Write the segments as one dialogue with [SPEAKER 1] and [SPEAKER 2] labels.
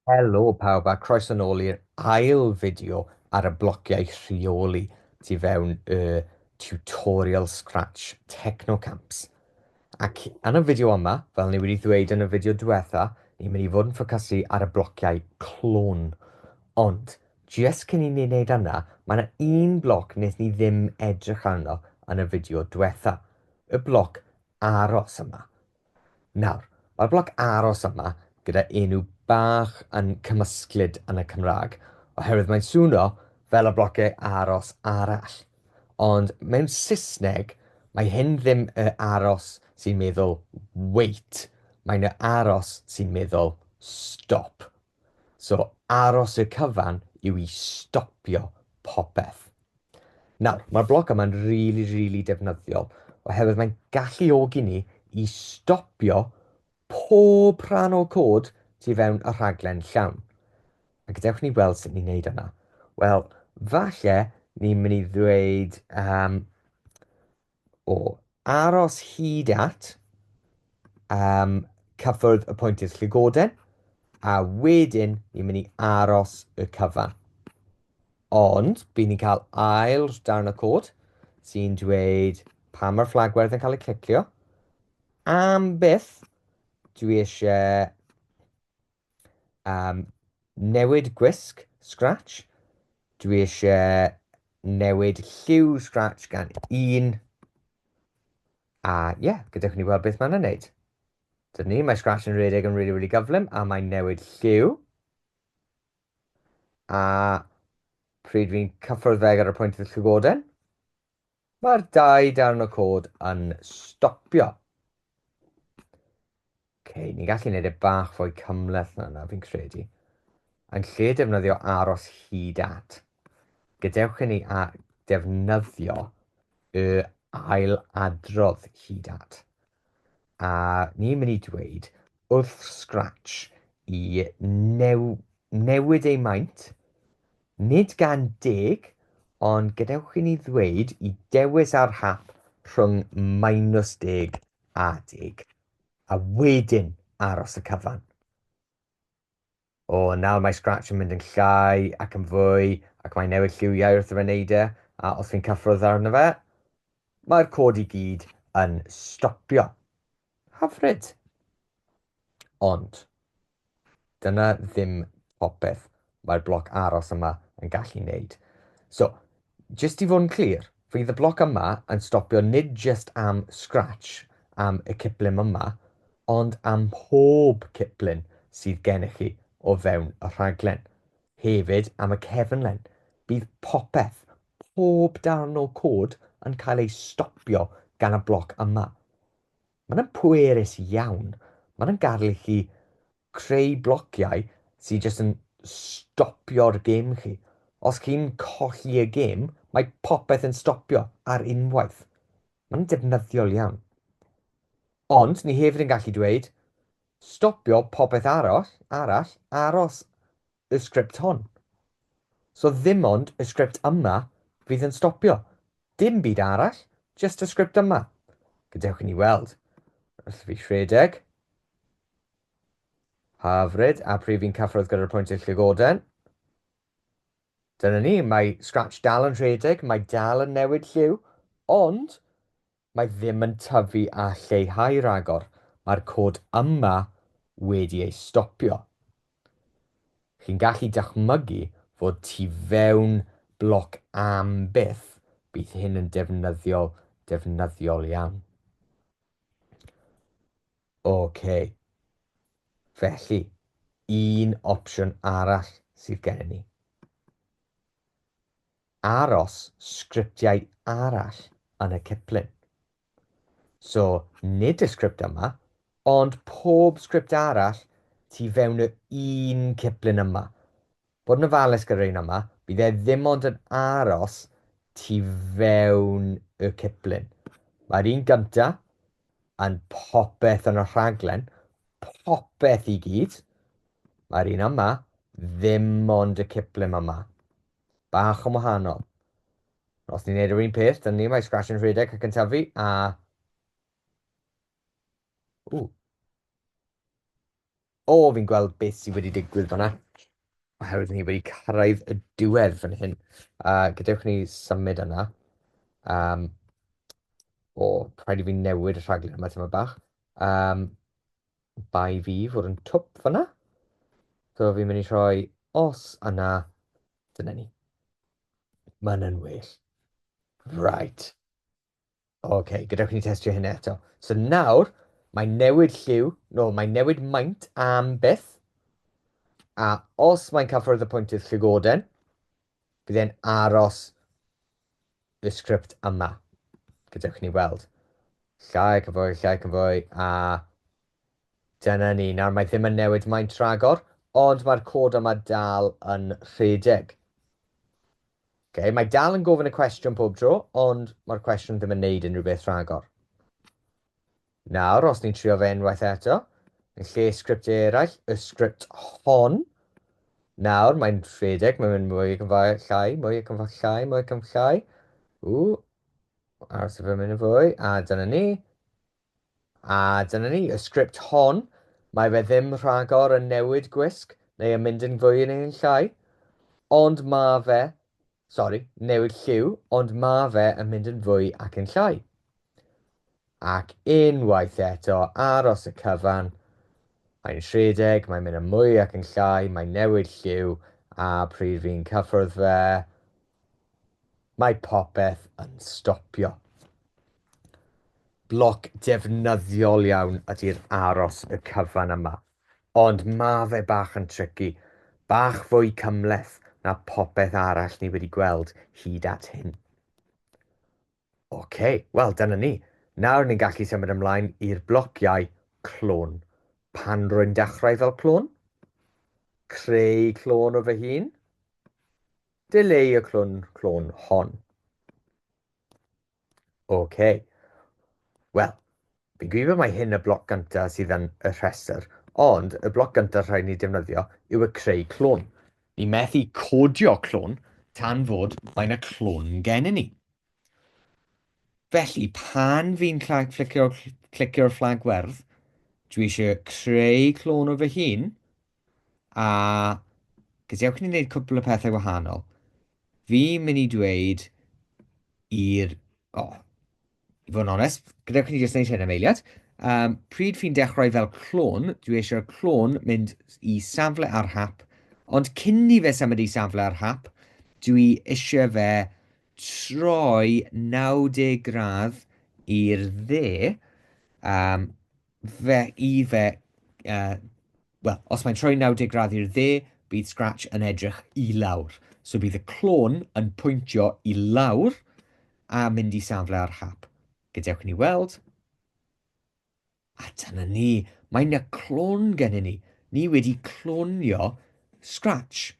[SPEAKER 1] Helo pawb a croeso nôl i'r ail fideo ar y blociau rheoli tu fewn y tutorial Scratch Technocamps. Ac yn y fideo yma, fel ni wedi ddweud yn y fideo diwetha, ni'n mynd i fod yn ffocysu ar y blociau clwn. Ond Jyst cyn i ni neud yna, mae 'na un bloc nes ni ddim edrych arno yn y fideo dwetha, y bloc aros yma. Nawr, mae'r bloc aros yma gyda enw bach yn cymysglyd yn y Cymraeg, oherwydd mae'n swno fel y blociau aros arall. Ond mewn Saesneg, mae hyn ddim y aros sy'n meddwl wait, mae'n y aros sy'n meddwl stop. So aros i'r cyfan yw i stopio popeth. Nawr, mae'r bloc yma'n rili, really, rili really defnyddiol oherwydd mae'n galluogi ni i stopio pob rhan o cod tu fewn y rhaglen llawn. A gadewch ni weld sut ni'n neud yna. Wel, falle ni'n mynd i ddweud um, O aros hyd at um, cyffwrdd y pwyntiau llygoden, a wedyn ni'n mynd i aros y cyfan. Ond, bydd ni'n cael ail darn y cod sy'n dweud pa mae'r fflagwerdd yn cael ei clicio. Am byth, dwi eisiau am newid gwisg Scratch, dwi eisiau newid lliw Scratch gan un, a ie, yeah, gadewch ni weld beth mae'n ei wneud. Dyna ni, mae Scratch yn rhedeg yn really, really gyflym, a mae'n newid lliw. A pryd fi'n cyffwrdd fe ar y pwynt y llygoden, Mae'r dau darn o cod yn stopio. Ok, ni'n gallu gwneud e bach fwy cymleth na yna, fi'n credu. Yn lle defnyddio aros hyd at, gadewch i ni defnyddio y ail adrodd hyd at. A ni'n mynd i dweud wrth Scratch i newid ei maint, nid gan deg, ond gadewch i ni ddweud i dewis ar hap rhwng minus deg a deg, a wedyn aros y cyfan. O, nawr mae Scratch yn mynd yn llai ac yn fwy, ac mae'n newid lliwiau wrth i fe wneud e, a os fi'n cyffwrdd arno fe, mae'r cod i gyd yn stopio. Hyfryd! Ond, dyna ddim popeth mae'r bloc aros yma yn gallu wneud. So, Jyst i fod yn clir, fydd y bloc yma yn stopio nid jyst am Scratch am y ciplun yma, ond am mhob ciplun sydd gennych chi o fewn y rhaglen. Hefyd am y cefnlen, bydd popeth, pob darn o cod yn cael ei stopio gan y bloc yma. Mae'n pwerus iawn, mae'n yn gadel i chi creu blociau sy jyst yn stopio'r gêm chi. Os chi'n colli y gêm, mae popeth yn stopio ar unwaith. Mae'n defnyddiol iawn. Ond ni hefyd yn gallu dweud, stopio popeth aros, arall aros y sgript hon. So ddim ond y sgript yma fydd yn stopio. Dim byd arall, jyst y sgript yma. Gadewch i ni weld. Wrth fi rhedeg. Hyfryd, a pryd fi'n cyffwrdd gyda'r pwyntiau llygoden. Dyna ni, mae Scratch dal yn rhedeg, mae dal yn newid lliw, ond mae ddim yn tyfu a lleihau rhagor, mae'r cod yma wedi ei stopio. Chi'n gallu dychmygu fod tu fewn bloc am byth, bydd hyn yn defnyddiol, defnyddiol iawn. Ok. Felly, un opsiwn arall sydd gennym ni. Aros sgriptiau arall yn y ciplun. So, nid y sgript yma, ond pob sgript arall tu fewn yr un ciplun yma. Bod yn ofalus gyda'r un yma, bydd e ddim ond yn aros tu fewn y ciplun. Mae'r un gynta yn popeth yn y rhaglen, popeth i gyd. Mae'r un yma ddim ond y ciplun yma. Bach yn wahanol. Os ni'n neud yr un peth, dyna ni, mae Scratch yn rhedeg ac yn tyfu, a... Ww. O, fi'n gweld beth sydd wedi digwydd fanna, oherwydd ni wedi cyrraedd y diwedd fan hyn. Uh, gadewch ni symud yna. Um, o, rhaid i fi newid y rhaglen yma tyma bach. Um, bai fi fod yn twp fanna. So fi'n mynd i rhoi os yna, dyna ni. Mae'n yn well. Right. OK, gadewch i ni testio hyn eto. So nawr, mae newid lliw, no, mae newid maint am byth, a os mae'n cyffwrdd y pwyntydd llygoden, bydd e'n aros y sgript yma. Gadewch i ni weld. Llai ac yn fwy, llai ac yn fwy, a dyna ni. Nawr mae ddim yn newid maint rhagor, ond mae'r cod yma dal yn rhedeg. Ok, mae dal yn gofyn y cwestiwn pob tro, ond mae'r cwestiwn ddim yn neud unrhyw beth rhagor. Nawr, os ni'n trio fe unwaith eto, yn lle sgript eraill, y sgript hon, nawr mae'n rhedeg, mae'n mynd mwy cymfau llai, mwy cymfau llai, mwy cymfau llai. Ww, aros i fe mynd yn fwy, a dyna ni. A dyna ni, y sgript hon. Mae fe ddim rhagor yn newid gwisg neu yn mynd yn fwy neu yn llai, ond ma' fe, sori, newid lliw, ond ma' fe yn mynd yn fwy ac yn llai. Ac unwaith eto, aros y cyfan, mae'n rhedeg, mae'n mynd yn mwy ac yn llai, mae'n newid lliw, a pryd fi'n cyffwrdd fe, Mae popeth yn stopio. Bloc defnyddiol iawn ydy'r aros y cyfan yma, ond ma fe bach yn tricky, bach fwy cymhleth na popeth arall ni wedi gweld hyd at hyn. Ocê, wel dyna ni. Nawr ni'n gallu symud ymlaen i'r blociau clôn. Pan rwy'n dechrau fel clôn, creu clôn o fy hun, Dileu y clwn clôn hon. OK. Wel, fi'n gwybod mae hyn y bloc gynta sydd yn y rhestr, ond y bloc gynta rhaid ni defnyddio yw y creu clwn. Ni methu codio clwn tan fod mae'n y clwn gen i ni. Felly, pan fi'n clicio'r fflag werdd, dwi eisiau creu clwn o fy hun, A gadewch ni wneud cwpl o pethau wahanol. Fi'n mynd i dweud i'r... O, oh, i fod yn onest, gadewch ni jyst wneud hyn am eiliad. Um, pryd fi'n dechrau fel clon, dwi eisiau'r clon mynd i safle ar hap, ond cyn ni fe symud i safle ar hap, dwi eisiau fe troi 90 gradd i'r dde, um, fe i fe, uh, wel, os mae'n troi 90 gradd i'r dde, bydd Scratch yn edrych i lawr. So bydd y clôn yn pwyntio i lawr a mynd i safle ar hap. Gadewch ni weld. A dyna ni, mae yna clôn gennym ni. Ni wedi clonio Scratch.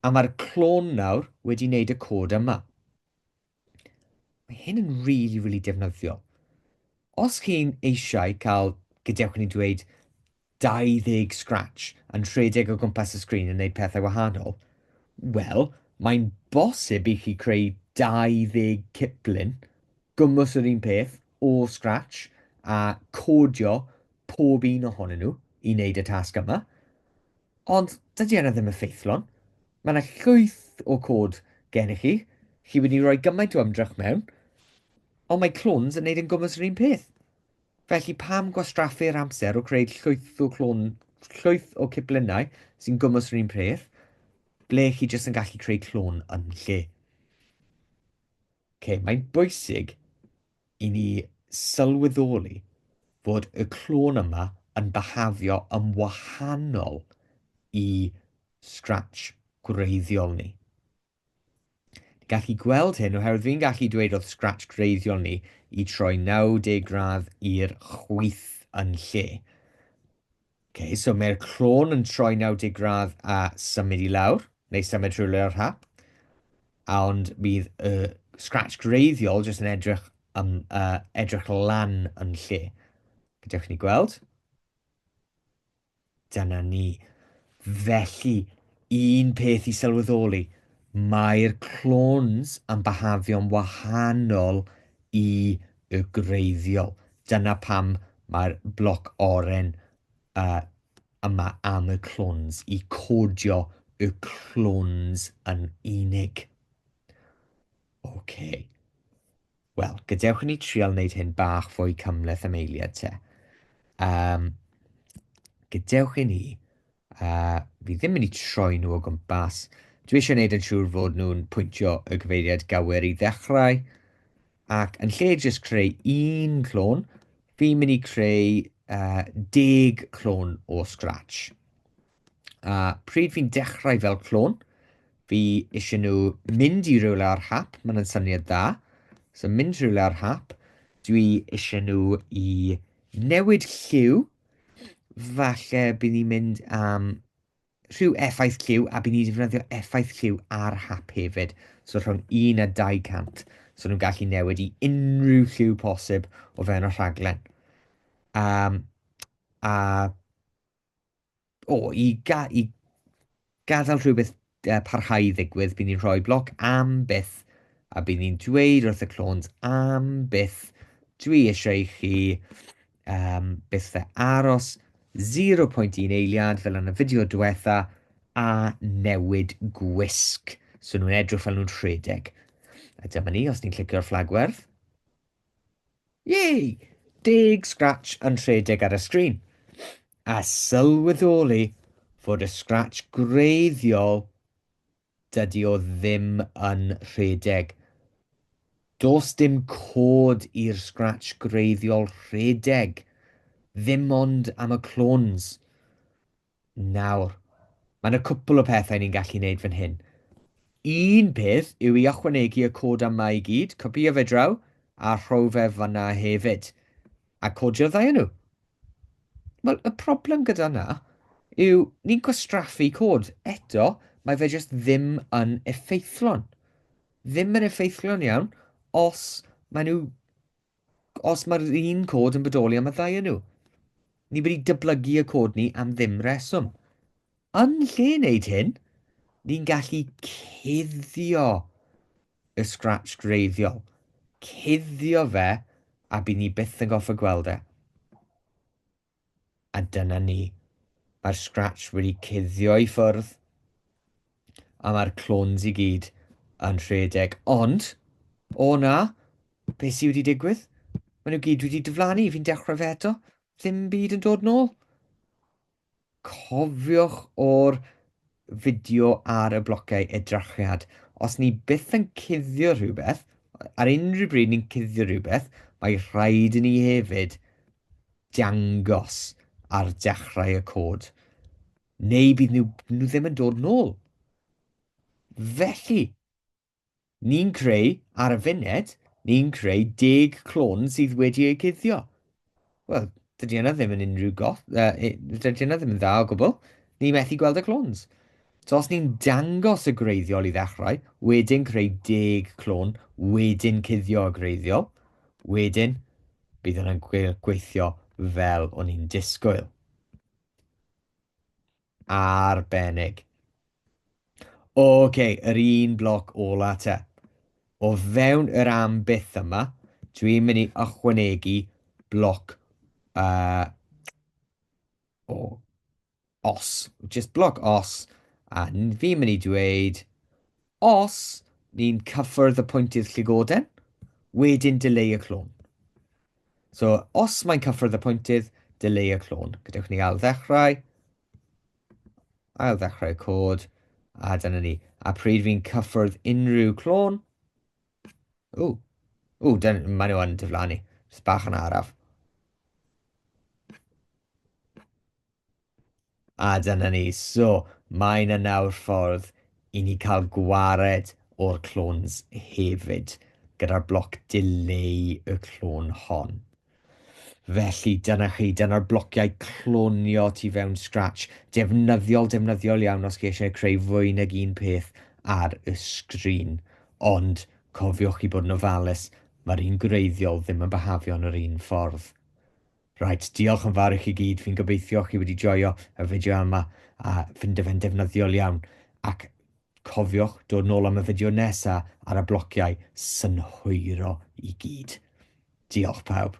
[SPEAKER 1] A mae'r clôn nawr wedi wneud y cod yma. Mae hyn yn rili, really, rili really defnyddiol. Os chi'n eisiau cael, gadewch ni dweud, 20 scratch yn rhedeg o gwmpas y sgrin yn gwneud pethau wahanol, wel, mae'n bosib i chi creu 20 ciplun, gwmws yr un peth, o scratch, a codio pob un ohonyn nhw i wneud y tasg yma. Ond dydy yna ddim effeithlon. Mae yna llwyth o cod gennych chi, chi wedi rhoi gymaint o ymdrech mewn, ond mae clones yn gwneud yn gwmws yr un peth. Felly pam gwastraffu'r amser o creu llwyth o clon, llwyth o ciplynnau sy'n gwmws yr un peth, ble chi jyst yn gallu creu clon yn lle. Okay, mae'n bwysig i ni sylweddoli fod y clôn yma yn byhafio yn wahanol i Scratch gwreiddiol ni. Ni'n gallu gweld hyn oherwydd fi'n gallu dweud oedd Scratch gwreiddiol ni i troi 90 gradd i'r chwith yn lle. Ok, so mae'r clôn yn troi 90 gradd a symud i lawr, neu symud rhywle o'r hap. A ond bydd y uh, scratch greiddiol jyst yn edrych, um, uh, edrych lan yn lle. Gadewch ni gweld. Dyna ni. Felly, un peth i sylweddoli, mae'r clones yn byhafio'n wahanol Y gwreiddiol. Dyna pam mae'r bloc oren yma am y clones, i codio y clones yn unig. OK. Wel, gadewch i ni trial wneud hyn bach fwy cymhleth am eiliad te. Um, gadewch i ni A fi ddim mynd i troi nhw o gwmpas. Dwi eisiau gwneud yn siŵr fod nhw'n pwyntio y gyfeiriad gywir i ddechrau. Ac yn lle jyst creu un clôn, fi'n mynd i creu uh, deg clôn o scratch. A pryd fi'n dechrau fel clôn, fi eisiau nhw mynd i rywle ar hap, mae'n syniad dda. So mynd rhywle ar hap, dwi eisiau nhw i newid lliw Falle bydd ni'n mynd am rhyw effaith lliw a bydd ni'n defnyddio effaith lliw ar hap hefyd. So rhwng 1 a 200. So nhw'n gallu newid i unrhyw lliw posib o fewn y rhaglen. Um, a O, i ga- i gadael rhywbeth uh, parhau i ddigwydd, bydd ni'n rhoi bloc am byth, a bydd ni'n dweud wrth y clons am byth, dwi eisiau i chi um, byth fe aros 0.1 eiliad fel yn y fideo diwetha a newid gwisg. So nhw'n edrych fel nhw'n rhedeg. A dyma ni, os ni'n clicio'r fflagwerth, Yay! Deg scratch yn rhedeg ar y sgrin, a sylweddoli fod y scratch gwreiddiol dydy o ddim yn rhedeg. Does dim cod i'r scratch gwreiddiol rhedeg, ddim ond am y clones. Nawr, mae yna cwpl o pethau ni'n gallu neud fan hyn. Un peth yw i ychwanegu y cod am 'ma' i gyd, copïo fe draw, a rho fe fan'na hefyd. A codio'r ddau o nhw. Wel, y problem gyda 'na yw ni'n gwastraffu cod. Eto, mae fe jyst ddim yn effeithlon. Ddim yn effeithlon iawn os maen nhw Os mae'r un cod yn bodoli am y ddau o nhw, ni wedi dyblygu y cod ni am ddim reswm. Yn lle wneud hyn, ni'n gallu cuddio y scratch greiddiol, cuddio fe a bydd ni byth yn goffa gweld e. A dyna ni. Mae'r scratch wedi cuddio i ffwrdd, a mae'r clones i gyd yn rhedeg. Ond, o na, beth sydd wedi digwydd? Mae nhw gyd wedi diflannu, fi'n dechrau fe eto, ddim byd yn dod nôl. Cofiwch o'r fideo ar y blociau edrachiad. Os ni byth yn cuddio rhywbeth, ar unrhyw bryd ni'n cuddio rhywbeth, mae rhaid i ni hefyd dangos ar dechrau y cod, neu bydd nhw, nhw ddim yn dod nôl. Felly, ni'n creu, ar y funed, ni'n creu deg clon sydd wedi eu cuddio. Wel, dydy yna ddim yn unrhyw goth, uh, dydy yna ddim yn dda o gwbl. Ni methu gweld y clones. So os ni'n dangos y greiddiol i ddechrau, wedyn creu deg clon, wedyn cuddio y greiddiol, wedyn Bydd yna gweithio fel o'n i'n disgwyl. Arbennig. Oce, okay, yr un bloc ola te. O fewn yr am byth yma, dwi'n mynd i ychwanegu bloc uh, o Os, jyst bloc os, a ni ddim yn ei dweud, os ni'n cyffwrdd y pwynt i'r llygoden, wedyn dileu y clon. So, os mae'n cyffwrdd y pwyntydd, dileu y clon. Gadewch ni ail ddechrau, ail ddechrau y cod, a dyna ni. A pryd fi'n cyffwrdd unrhyw clon, o, o, maen nhw yn diflannu, jyst bach yn araf. A dyna ni, so mae 'na nawr ffordd i ni cael gwared o'r clones hefyd, gyda'r bloc dileu y clone hon. Felly dyna chi, dyna'r blociau clonio tu fewn Scratch. Defnyddiol, defnyddiol iawn os chi eisiau creu fwy nag un peth ar y sgrin. Ond cofiwch chi bod yn ofalus, mae'r un gwreiddiol ddim yn byhafio'n yr un ffordd. Reit, diolch yn fawr i chi gyd, fi'n gobeithio chi wedi joio y fideo yma a ffindo fe'n defnyddiol iawn, ac cofiwch dod nôl am y fideo nesa ar y blociau synhwyro i gyd. Diolch pawb.